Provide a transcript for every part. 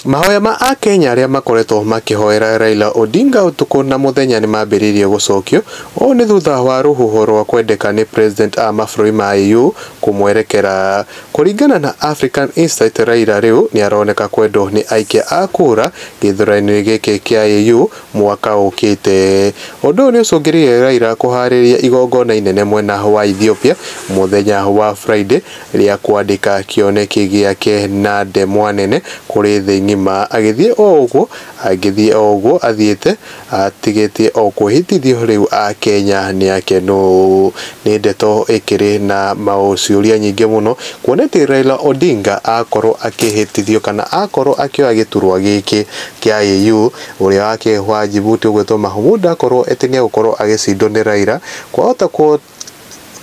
Mahoya ma Akenya arĩa makoretwo makĩhoera Raila Odinga ũtukũ na mũthenya nĩ mambĩrĩirie gũcokio. Ũũ nĩ thutha wa rũhuho rwa kwendeka nĩ President a mabũrũri ma AU kũmwerekera. Kũringana na African Insight Raila rĩu nĩ aroneka kwendwo nĩ aikia a kura gĩthuranoinĩ gĩkĩ kĩa AU mwaka ũkĩte. Ũndũ ũyũ nĩ ũcũngĩrĩirie Raila kũharĩria igongona inene mwena wa Ethiopia mũthenya wa Friday rĩa kwandĩka kĩoneki gĩake na ndemwa nene kũrĩ thĩ ng'ima, agĩthiĩ o ũguo angĩthiĩ o ũguo athiĩte, atigĩtie o kwĩhĩtithio rĩu Akenya nĩ akenu. Nĩ ndeto ĩkĩrĩ na maũciũria nyingĩ mũno, kuona atĩ Raila Odinga akorwo akĩhĩtithio kana akorwo akĩoya gĩturwa gĩkĩ kĩa AU, ũrĩa wake wa Djibouti ũgwĩtwo Mahmoud akorwo atĩ nĩ egũkorwo agĩcindwo nĩ Raila, kwahota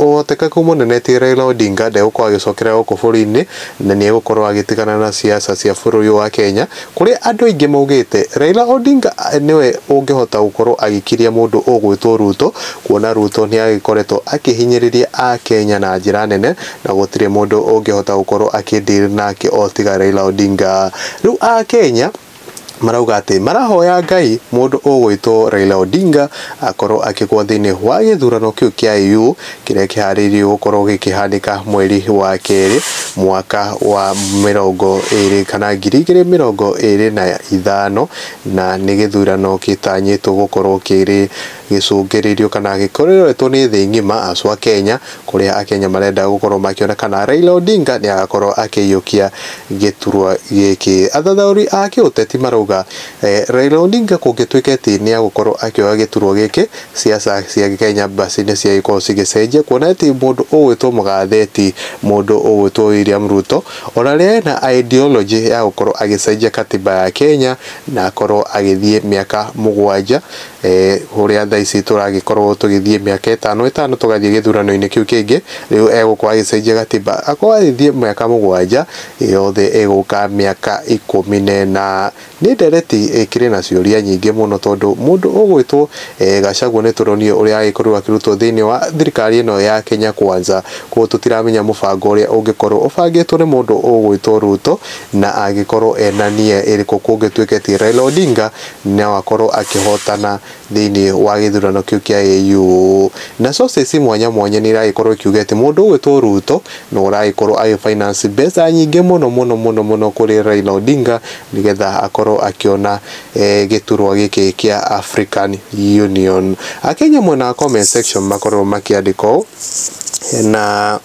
Ũhotekeku mũnene ti Raila Odinga ndegũkorwo agĩcokera gũkũ bũrũri-inĩ na nĩ egũkorwo agĩtigana na siasa cia bũrũri ũyũ wa Kenya, kũrĩa andũ aingĩ maugĩte Raila Odinga nĩwe ũngĩhota gũkorwo agĩkiria mũndũ ũgwĩtwo Ruto, kuona Ruto nĩ agĩkoretwo akĩhinyĩrĩria Akenya na njĩra nene na gũtirĩ mũndũ ũngĩhota gũkorwo akĩ deal nake o tiga Raila Odinga. Rĩu Akenya marauga atĩ marahoya Ngai mũndũ ũgwĩtwo Raila Odinga akorwo akĩgwa thĩinĩ wa gĩthurano kĩu kĩa AU kĩrĩa kĩharĩirio gũkorwo gĩkĩhanĩka mweri wa kerĩ mwaka wa mĩrongo ĩrĩ kana ngiri igĩrĩ mĩrongo ĩrĩ na ithano na nĩ gĩthurano gĩtanyĩtwo gũkorwo kĩrĩ gĩcũngĩrĩirio kana gĩkoretwo nĩ thĩ ng'ima acu a Kenya kũrĩa Akenya marenda gũkorwo makĩona kana Raila Odinga nĩagakorwo akĩiyũkia gĩturwa gĩkĩ. Athathaũri a kĩũteti marauga Raila Odinga kũngĩtuĩka atĩ nĩagũkorwo akĩoya gĩturwa gĩkĩ, ciaca cia Kenya basi nĩciagĩkorwo cigĩcenjia kuona atĩ mũndũ ũgwĩtwo mũgathe ti mũndũ ũgwĩtwo William Ruto ona rĩrĩa ena ideology ya gũkorwo agĩcenjia katiba ya Kenya na akorwo agĩthiĩ mĩaka mũgwanja. ũrĩa thaa ici tũragĩkorwo tũgĩthiĩ mĩaka ĩtano ĩtano tũgathiĩ gĩthurano-inĩ kĩu kĩngĩ, rĩu egũkorwo agĩcenjia gatiba, akorwo agĩthiĩ mĩaka mũgwanja yothe ĩgũka mĩaka ikũmi na ĩna. Nĩ ndereti ĩkĩrĩ na ciũria nyingĩ mũno tondũ mũndũ ũgwĩtwo Gachagua nĩ tũronire ũrĩa agĩkorirwo akĩrutwo thĩiniĩ wa thirikari ĩno ya Kenya Kwanza, koguo tũtiramenya mũbango ũrĩa ũngĩkorwo ũbangĩtwo nĩ mũndũ ũgwĩtwo Ruto na angĩkorwo ena nia ĩrĩkũ kũngĩtuĩke ti Raila Odinga noakorwo akĩhotana thĩinĩ wa gĩthurano kĩu kĩa AU. Na sources mwanya mwanya nĩiragĩkorwo ikiuga atĩ mũndũ ũgwĩtwo Ruto nĩwe ũragĩkorwo agĩ finance mbeca nyingĩ mũno mũno mũno mũno kũrĩ Raila Odinga nĩgetha akorwo akĩona gĩturwa gĩkĩ kĩa African Union. Akenya mwena wa comment section makorirwo makĩandĩka ũũ na...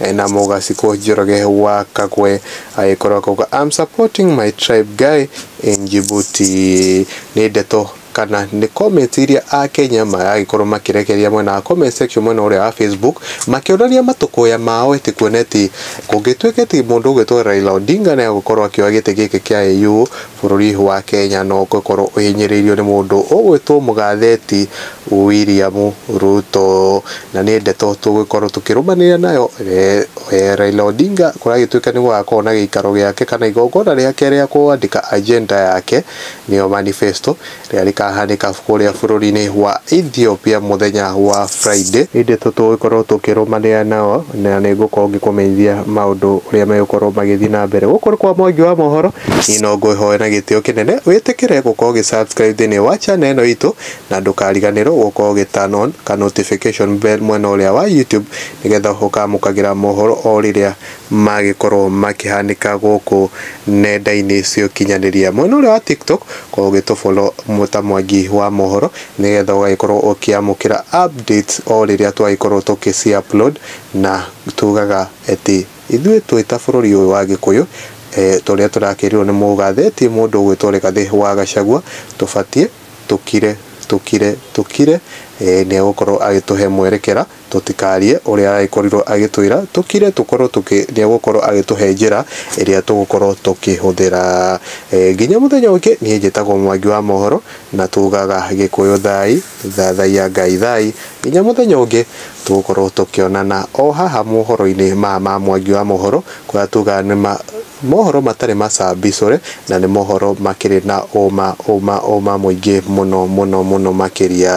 Ena mugasi ku Njoroge wa Kagwe agĩkorwo akauga I'm supporting my tribe guy in Djibouti. Nĩ ndeto kana nĩ comments iria Akenya maragĩkorwo makĩrekereria mwena wa comment section mwena ũrĩa wa Facebook makĩonania matũkũya mao ĩtĩ kuona ĩtĩ kũngĩtuĩka ĩtĩ mũndũ ũgwĩtwo Raila Odinga nĩ agũkorwo akĩoya gĩtĩ gĩkĩ kĩa AU Bũrũri wa Kenya no ũgũkorwo ũhinyĩrĩirio nĩ mũndũ ũgwĩtwo mũgatheti William Ruto. Na nĩ ndeto tũgũgĩkorwo tũkĩrũmanĩrĩra nayo Raila Odinga kũragĩtuĩka nĩ gũgakorwo na gĩikaro gĩake kana igongona rĩake rĩa kwandĩka agenda yake nĩyo manifesto. Rĩrĩa rĩkaahanĩka kũrĩa bũrũri-inĩ wa Ethiopia mũthenya wa Friday. Hĩndĩ tũgũkorũo tũkĩrũmanĩrĩra nao, na nĩ ngũkorũo ngĩkũmenyithia maũndũ ũrĩa megũkorũo magĩthiĩ na mbere. Gũkũ nĩ kwa Mwangi wa Mohoro. Niĩ no ngwĩhoe na gĩtĩo kĩnene wĩtĩkĩre gũkorũo ũgĩ subscribe thĩinĩ wa channel ĩno itũ, na ndũkariganĩrũo gũkorũo ũgĩ turn on ka notification bell mwena ũrĩa wa YouTube, nĩgetha ũkamũkagĩra mohoro o rĩrĩa magĩkorwo makĩhanĩka gũkũ nenda-inĩ cia ũkinyanĩria. Mwena ũrĩa wa TikTok korwo ũgĩtũ follow ta Mwangi wa Mohoro nĩgetha ũgagĩkorwo ũkĩamũkĩra updates o rĩrĩa twagĩkorwo tũkĩ ci upload na tugaga atĩ ithuĩ twĩ ta bũrũri ũyũ wa Gĩkũyũ ta ũrĩa tũrakĩrĩrwo nĩ mũgathe ti mũndũ ũgwĩtwo Rĩgathĩ wa Gachagua tũbatiĩ tũkire tũkire tũkire nĩ egũkorwo agĩtũhe mwerekera. Tũtikaarie ũrĩa agĩkorirwo agĩtwĩra, tũkire tũkorwo tũkĩ, nĩegũkorwo agĩtũhe njĩra ĩrĩa tũgũkorwo tũkĩhũthĩra. Nginya mũthenya ũngĩ, niĩ njĩtagwo Mwangi wa Mohoro, na tugaga Gĩkũyũ thaai, thathaiya Ngai thaai. Nginya mũthenya ũngĩ, tũgũkorwo tũkĩonana o haha mohoro-inĩ maya ma Mwangi wa Mohoro, kũrĩa tugaga nĩ ma, mohoro matarĩ macambicũre, na nĩ mohoro makĩrĩ na ũũma, ũũma, ũũma mũingĩ mũno mũno mũno makĩria.